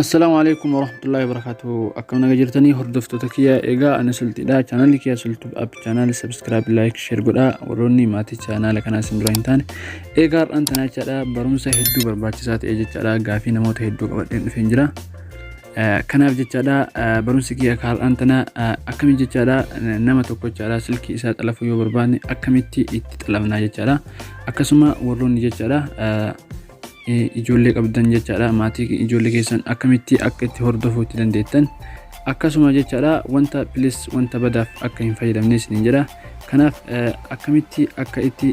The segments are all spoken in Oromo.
Assalaamu alaikum warahmatullahi wabarakatuh. Akkam naga jirtanii hordoftoota kiyya egaa ani sulxidha. Chaanalli kiyya sulxu app chaanal subscribe like share godhaa warroonni maatii chaanaala kanaa isin dura hin taane. Egaa har'aan tanaa jechaadha barumsa hedduu barbaachisaa ta'e jechaadha gaafii namoota hedduu qabadheen dhufeen jira. Eh, Kanaaf jechaadha eh, barumsi kiyya akka har'aan tanaa eh, akkamitti jechaadha eh, nama tokko jechaadha silkii isaa xalafuu yoo barbaanne akkamitti itti xalafnaa jechaadha. Akkasuma warroonni jechaadha eh, ijoollee qabdan jechaadha maatii ijoollee keessan akkamitti akka itti hordofuu itti dandeettan akkasuma jechaadha wanta pilis wanta badaaf akka hin fayyadamne isin jedha kanaaf akkamitti akka itti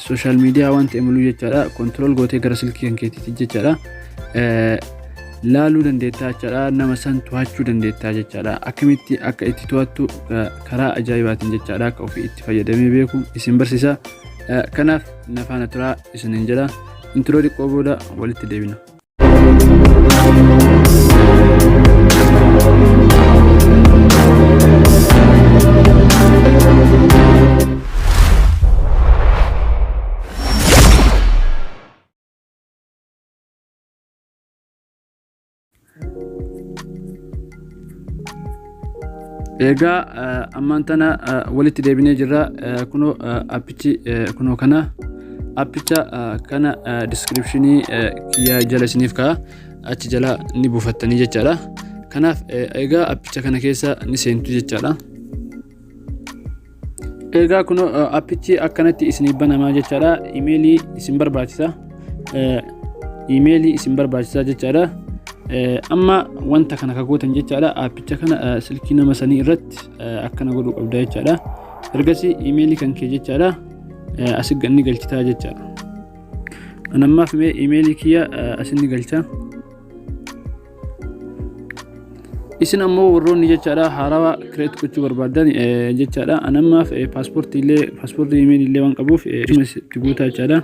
sooshaal miidiyaa wanta imuluu jechaadha kontirool gootee gara silkii kan keetiitti jechaadha laaluu dandeettaa jechaadha nama san to'achuu dandeettaa jechaadha akkamitti akka itti to'attu karaa ajaa'ibaatiin jechaadha akka ofii itti fayyadamee beeku isin barsiisa kanaaf na faana turaa isinin jedha intiroo xiqqoo booda walitti deebina. egaa ammaan tana walitti deebinee jirra kunoo appichi kunoo kana appicha kana diskiripshinii kiyya jala isiniif ka'a achi jala ni buufattanii jechaadha kanaaf egaa appicha kana keessa ni seentu jechaadha Egaa kun appichi akkanatti isinii banamaa jechaadha. Imeelii isin barbaachisa. Imeelii isin barbaachisa jechaadha. Amma wanta kana kagootan jechaadha. Appicha kana silkii nama sanii irratti akkana godhuu qabda jechaadha. Ergasii imeelii kan kee jechaadha. Asi ganni galchitaa jechaadha. Anammaaf mee imeelii kiyya asinni galchaa. isin ammoo warroonni jechaadha haarawaa kireet gochuu barbaadan jechaadha anammaaf paaspoortii illee paaspoortii imeelii illee waan qabuuf itti guutaa jechaadha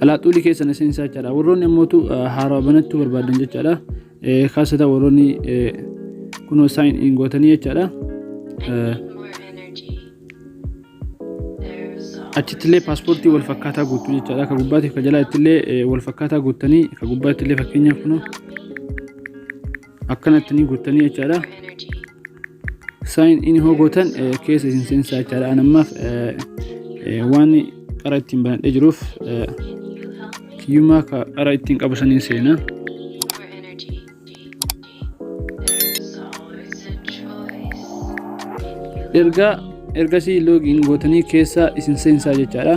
alaaxuulii keessan isin isaa jechaadha warroonni ammootu haarawaa banachuu barbaadan jechaadha kaasata warroonni kunoo saayin in gootanii jechaadha achittillee paaspoortii wal fakkaataa guutuu jechaadha. Ka gubbaatti ka jalaa ittillee eh, wal fakkaataa guuttanii ka gubbaatti illee fakkeenyaaf kun akkanatti ni guuttanii jechaadha. Saayin inni hoo gootan eh, keessa isin seensaa jechaadha. An ammaaf eh, eh, waan qara ittiin banadhee jiruuf eh, kiyyummaa ka qara ittiin qabu saniin seenaa. erga ergasii loogiin gootanii keessaa isin seensaa jechaadha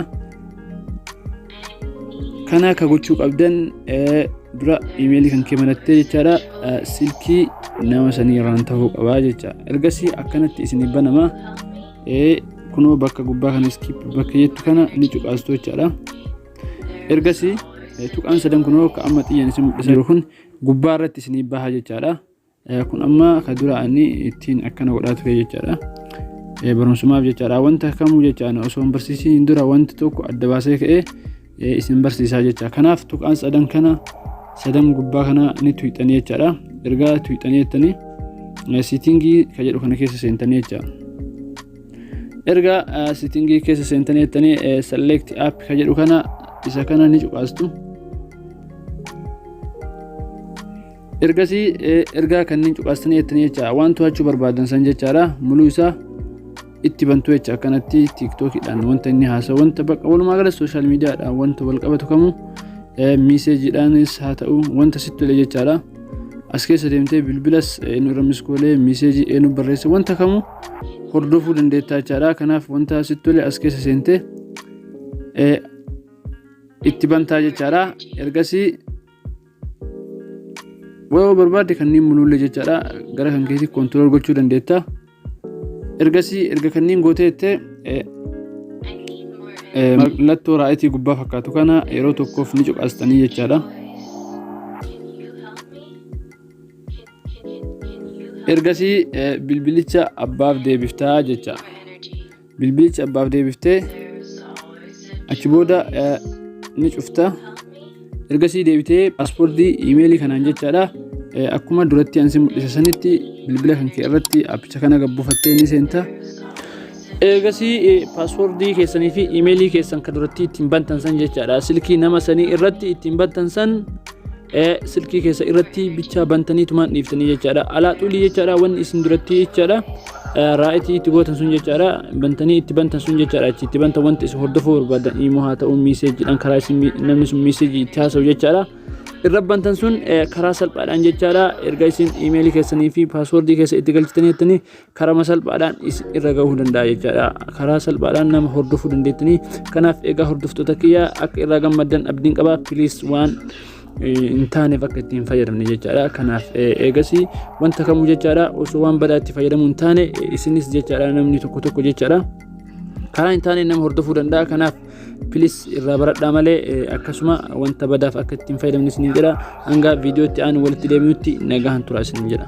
kana akka gochuu qabdan dura imeelii kan kee manattee jechaadha silkii nama sanii irraan ta'uu qabaa jecha ergasii akkanatti isin banama kunoo bakka gubbaa kana iskiip bakka jettu kana ni cuqaastu jechaadha ergasii tuqaan sadan kunoo akka amma xiyyan isin mul'isaa jiru kun gubbaa irratti isinii baha jechaadha. Kun amma ka dura ani ittiin akkana godhaa ture jechaadha. Barumsumaaf jechaadha. Wanta kamuu jechaan osoo hin barsiisiin dura wanti tokko adda baasee ka'ee isin barsiisaa jecha. Kanaaf tuqaan sadan kana sadan gubbaa kana ni tuyxanii jechaadha. Ergaa tuyxanii jettanii siitingii ka jedhu kana keessa seentanii jechaadha. erga sitingii keessa seentanii jettanii select app ka jedhu kana isa kana ni cuqaastu ergasii ergaa kanneen cuqaastanii jettanii jecha waan to'achuu barbaadan san jechaadha muluu isaa itti bantu jecha akkanatti tiiktookidhaan wanta inni haasa'u wanta bakka walumaa gala sooshaal miidiyaadhaan wanta wal qabatu kamuu miiseejiidhaanis haa ta'u wanta sitti tole jechaadha as keessa deemtee bilbilas eenyu irra miskoolee miiseejii eenyu barreessa wanta kamuu hordofuu dandeettaa jechaadha kanaaf wanta asitti tole as keessa seentee itti bantaa jechaadha ergasii wayoo barbaadde kanneen mul'ullee jechaadha gara kan keessi koontirool gochuu dandeetta ergasii erga kanneen gootee jettee mallattoo raayitii gubbaa fakkaatu kana yeroo tokkoof ni cuqaastanii jechaadha. ergasii bilbilicha abbaaf deebiftaa jecha bilbilicha abbaaf deebiftee achi booda ni cufta ergasii deebitee paaspoortii imeelii kanaan jechaadha akkuma duratti ansi mul'isa sanitti bilbila kan kee irratti appicha kana gabbufattee ni seenta Eegasii paaswordii keessanii fi imeelii keessan kan duratti ittiin bantan san jechaadha. Silkii nama sanii irratti ittiin bantan san silkii keessa irratti bichaa bantanii tumaan dhiiftanii jechaadha. Alaa xulii jechaadha wanni isin duratti jechaadha. Raayitii itti gootan sun jechaadha. Bantanii itti bantan sun jechaadha. Achi itti bantan wanti isin hordofuu barbaadan immoo haa ta'u miiseejiidhaan karaa isin namni sun miiseejii itti haasa'u jechaadha. irra bantan sun karaa salphaadhaan jechaadha erga isin imeelii keessanii fi paaswordii keessa itti galchitanii jettanii karama salphaadhaan isin irra gahuu danda'a jechaadha karaa salphaadhaan nama hordofuu dandeettanii kanaaf egaa hordoftoota kiyya akka irraa gammaddan abdiin qaba piliis waan hin taaneef akka ittiin fayyadamne jechaadha kanaaf eegasii wanta kamuu jechaadha osoo waan badaa itti fayyadamuu hin taane isinis jechaadha namni tokko tokko jechaadha karaa hin taane nama hordofuu danda'a kanaaf pilis irraa baradhaa malee akkasuma wanta badaaf akka ittiin fayyadamne isiniin jedha hanga viidiyootti aanu walitti deebinutti nagaan tura isiniin jedha.